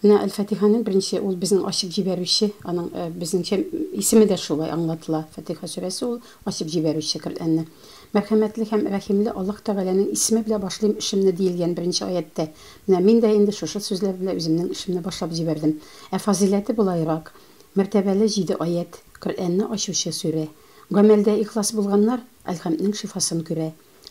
Менә Әл-Фатиханың беренче, ул безнең ачып җибәрүче, аның безнеңчә исеме дә шулай аңлатыла. Фатиха сүрәсе ул, ачып җибәрүче Коръәнне. Мәрхәмәтле һәм рәхимле Аллаһ Тәгаләнең исеме белән башлыйм эшемне, диелгән беренче аятьтә. Менә мин дә инде шушы сүзләр белән үземнең эшемне башлап җибәрдем. Ә фазыйләте болайрак, мәртәбәле җиде аять, Коръәнне ачучы сүрә. Гамәлдә ихлас булганнар Әл-Хәмднең шифасын күрә.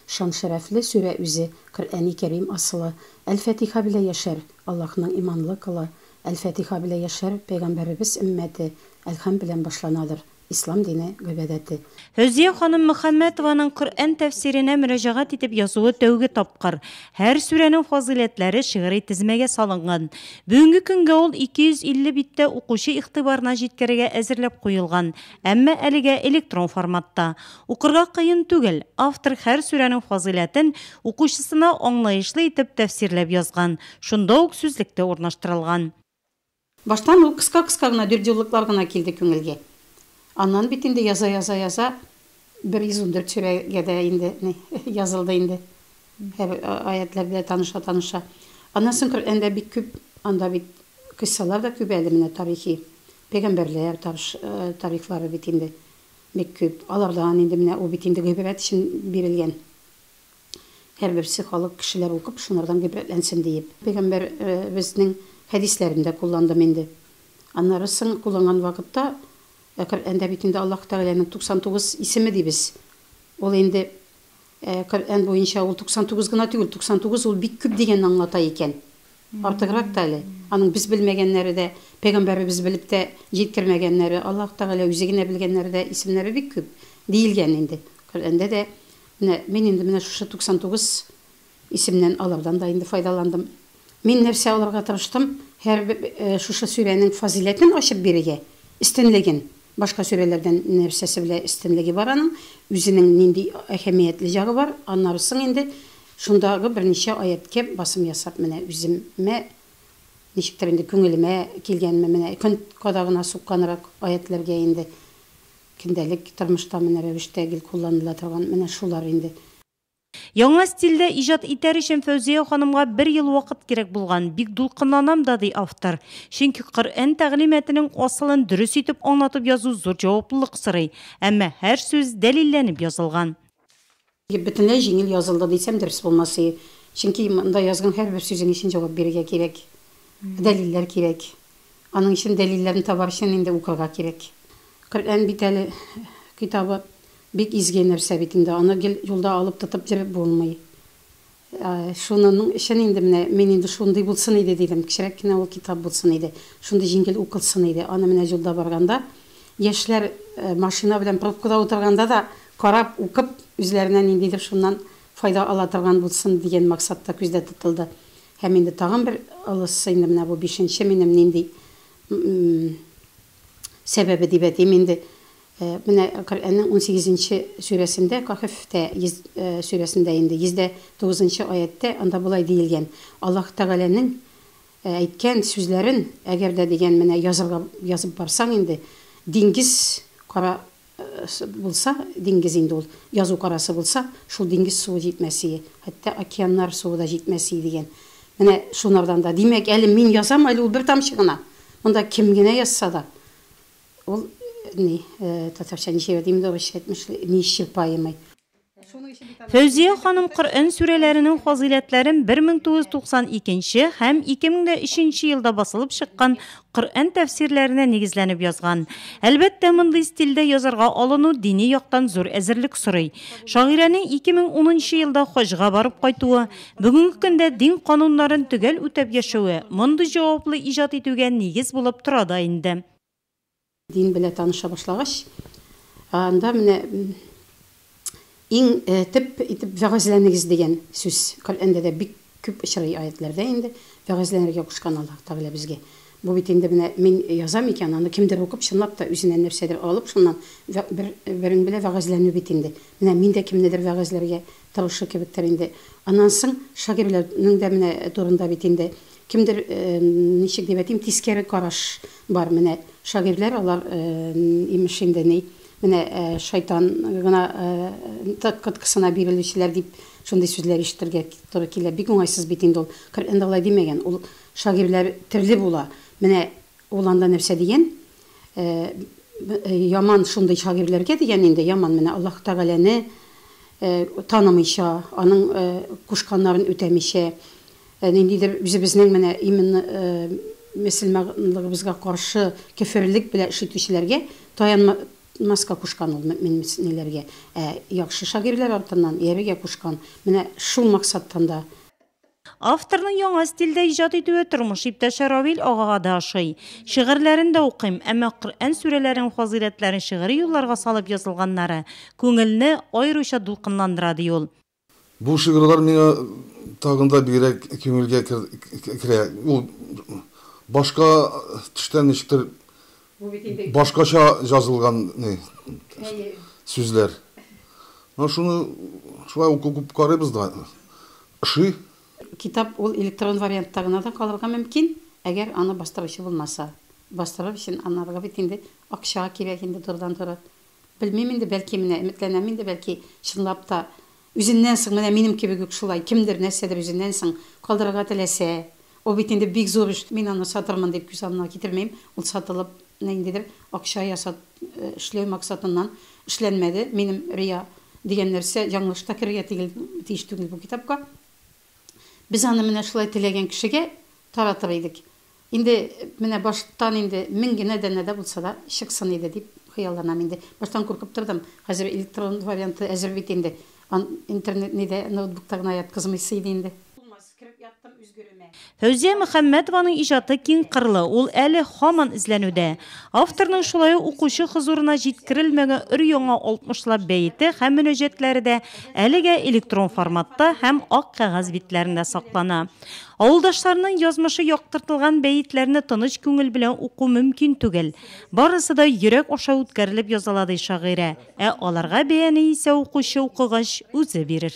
Шан-шәрәфле сүрә үзе, Коръәни Кәрим асылы, Әл-Фәтиха белә яшәр, Аллаһның иманлы колы, Әл-Фәтиха белә яшәр, Пәйгамбәребез өммәте, Әл-Хәм белән башланадыр, Ислам дине гыйбадәте. Фәүзия ханым Мөхәммәтованың Коръән тәфсиренә мөрәҗәгать итеп язуы тәүге тапкыр. Һәр сүрәнең фазыйләтләре шигъри тезмәгә салынган. Бүгенге көнгә ул 250 биттә укучы игътибарына җиткерергә әзерләп куелган. Әмма әлегә электрон форматта. Укырга кыен түгел, автор һәр сүрәнең фазыйләтен укучысына аңлаешлы итеп тәфсирләп язган, шунда ук сүзлек тә урнаштырылган. Баштан ул кыска-кыска гына дөрдюллыклар гына килде күңелгә. Аннан бит инде яза-яза-яза, 114 сүрәгә дә инде ни, язылды инде, һәр аятьләр белән таныша-таныша. Аннан соң Коръәндә бик күп, анда бит кыйссалар да күп әле менә тарихи. Пәйгамбәрләр табыш тарихлары бит инде бик күп. Алардан инде менә ул бит инде гыйбрәт өчен бирелгән. Һәрберсе халык, кешеләр укып, шунардан гыйбрәтләнсен диеп. Пәйгамбәр безнең хәдисләрен дә кулландым инде. Аннары соң кулланган вакытта, Коръәндә бит инде Аллаһ Тәгаләнең 99 исеме дибез. Ул инде Коръән буенча ул 99 гына түгел, 99 ул бик күп дигәнне аңлата икән. Артыграк та әле. Аның без белмәгәннәре дә, пәйгамбәребез белеп тә җиткермәгәннәре, Аллаһ Тәгалә үзе генә белгәннәре дә, исемнәре бик күп, диелгән инде. Коръәндә дә, менә мин инде менә шушы 99 Исемнән алардан да инде файдаландым. Мин нәрсә алырга тырыштым, һәр шушы сүрәнең фазыйләтен ачып бирергә, өстенлеген, башка сүрәләрдән нәрсәсе белә өстенлеге бар аның, үзенең нинди әһәмиятле ягы бар, аннары соң инде шундагы берничә аятькә басым ясап менә үземә ничектер инде күңелемә килгәнме менә көн кадагына сукканрак аятьләргә инде көндәлек тормышта менә рәвештә гел кулланыла торган менә шулар инде. Яңа стильдә иҗат итәр өчен Фәүзия ханымга бер ел вакыт кирәк булган. Бик дулкынланам да, ди автор. Чөнки Коръән тәгълиматының асылын дөрес итеп аңлатып язу зур җаваплылык сорый. Әмма һәр сүз дәлилләнеп язылган. Бөтенләй җиңел язылды, дисәм дөрес булмас и. Чөнки монда язган һәрбер сүзең өчен җавап бирергә кирәк. Дәлилләр кирәк. Аның өчен дәлилләрне табар өчен инде укырга кирәк. Коръән бит әле китабы. Бик изге нәрсә бит инде, аны гел юлда алып тотып йөреп булмый. Шунының өчен инде менә мин инде шундый булсын иде дидем, кечерәк кенә ул китап булсын иде, шундый җиңел укылсын иде, аны менә юлда барганда, яшьләр машина белән пробкада утырганда да карап, укып, үзләренә ниндидер шуннан файда ала торган булсын дигән максат та күздә тотылды. Һәм инде тагын бер олысы инде менә бу бишенче минем нинди, м-м-м. сәбәбе дип әйтим инде. Менә Коръәннең унсигезенче сүрәсендә, Каһфтә сүрәсендә инде, йөз дә тугызынчы аятьтә анда болай диелгән, Аллаһ Тәгаләнең әйткән сүзләрен, әгәр дә дигән, менә язырга язып барсаң инде, диңгез кара Булса, диңгез инде ул. Язу карасы булса, шул диңгез суы җитмәсие, хәтта океаннар суы да җитмәсие дигән. Менә шунардан да. Димәк, әле мин язам, әле ул бер тамчы гына. Монда кем генә язса да, ул, ни, татарча ничегә дим инде, урысча әйтмешли, неисчерпаемый. Фәүзия ханым Коръән сүрәләренең фазыйләтләрен 1992 нче һәм 2003 нче елда басылып чыккан Коръән тәфсирләренә нигезләнеп язган. Әлбәттә, мондый стильдә язарга алыну дини яктан зур әзерлек сорый. Шагыйрәнең 2010 нчы елда хаҗга барып кайтуы, бүгенге көндә дин кануннарын төгәл үтәп яшәве мондый җаваплы иҗат итүгә нигез булып тора да инде. Дин белә таныша башлагач, анда менә иң төп итеп вәгазьләнегез дигән сүз Коръәндә дә бик күп очрый, аятьләрдә инде вәгазьләнергә кушкан Аллаһ Тәгалә безгә. Бу бит инде менә мин язам икән, аны кемдер укып, чынлап та үзенә нәрсәдер алып, шуннан бер берең белә вәгазьләнү бит инде. Менә мин дә кемнедер вәгазьләргә торышы кебектер инде. Аннан соң шагыйрьләрнең дә менә турында бит инде кемдер, ничек дип әйтим, тискәре караш бар, менә шагыйрьләр алар, имеш инде ни, менә шайтан гына коткысына бирелүчеләр дип шундый сүзләр ишетергә туры килә. Бик уңайсыз бит инде ул. Коръәндә алай димәгән. Ул шагыйрьләр төрле була. Менә ул анда нәрсә дигән, Яман шундый шагыйрьләргә дигән инде, яман менә Аллаһ Тәгаләне танымыйча, аның кушканнарын үтәмичә, ниндидер үзебезнең менә именно мөселманлыгыбызга каршы кеферлек белән эш итүчеләргә таянмаска кушкан ул мөэминнеләргә. Ә яхшы шагыйрьләр артыннан иярергә кушкан. Менә шул максаттан да. Авторның яңа стильдә иҗат итүе тормыш иптәше Равил агага да ошый. Шигырьләрен дә укыйм, әмма Коръән сүрәләренең фазыйләтләрен шигъри юлларга салып язылганнары күңелне аеруча дулкынландыра, ди ул. Бу шигырьләр миңа тагын да бигрәк күңелгә керә. Ул башка төштән ничектер Бу бит инде. Башкача җазылган ни сүзләр. Менә шуны шулай укып карыйбыз да, ошый. Китап ул электрон вариантта гына да калырга мөмкин, әгәр аны бастыручы булмаса. Бастырыр өчен анарга бит инде акча кирәк инде турыдан-туры. Белмим инде, бәлки менә, өметләнәм инде, бәлки чынлап та Үзеннән соң, менә минем кебек үк шулай, кемдер, нәрсәдер үзеннән соң калдырырга теләсә, ул бит инде бик зур эш, мин аны сатырмын дип күз алдына китермим, ул сатылып, ниндидер акча ясат, эшләү максатыннан эшләнмәде, минем рия дигән нәрсә яңлыш та керергә тигел, тиеш түгел бу китапка. Без аны менә шулай теләгән кешегә таратыр идек. Инде менә баштан инде мең генә данә дә булса да чыксын иде дип хыялланам инде. Баштан куркып тордым. Хәзер электрон варианты әзер бит инде. Ан интернет нидә, ноутбукта гына яткызмыйсы иде инде. Фәүзия Мөхәммәтованың иҗаты киңкырлы, ул әле һаман эзләнүдә. Авторның шулай ук укучы хозурына җиткерелмәгән өр-яңа алтмышлап бәете һәм мөнәҗәтләре дә Әлегә электрон форматта һәм ак кәгазь битләрендә саклана. Авылдашларның язмышы яктыртылган бәетләрне тыныч күңел белән уку мөмкин түгел. Барысы да йөрәк аша үткәрелеп языла, ди шагыйрә. Ә аларга бәяне исә укучы укыгач үзе бирер.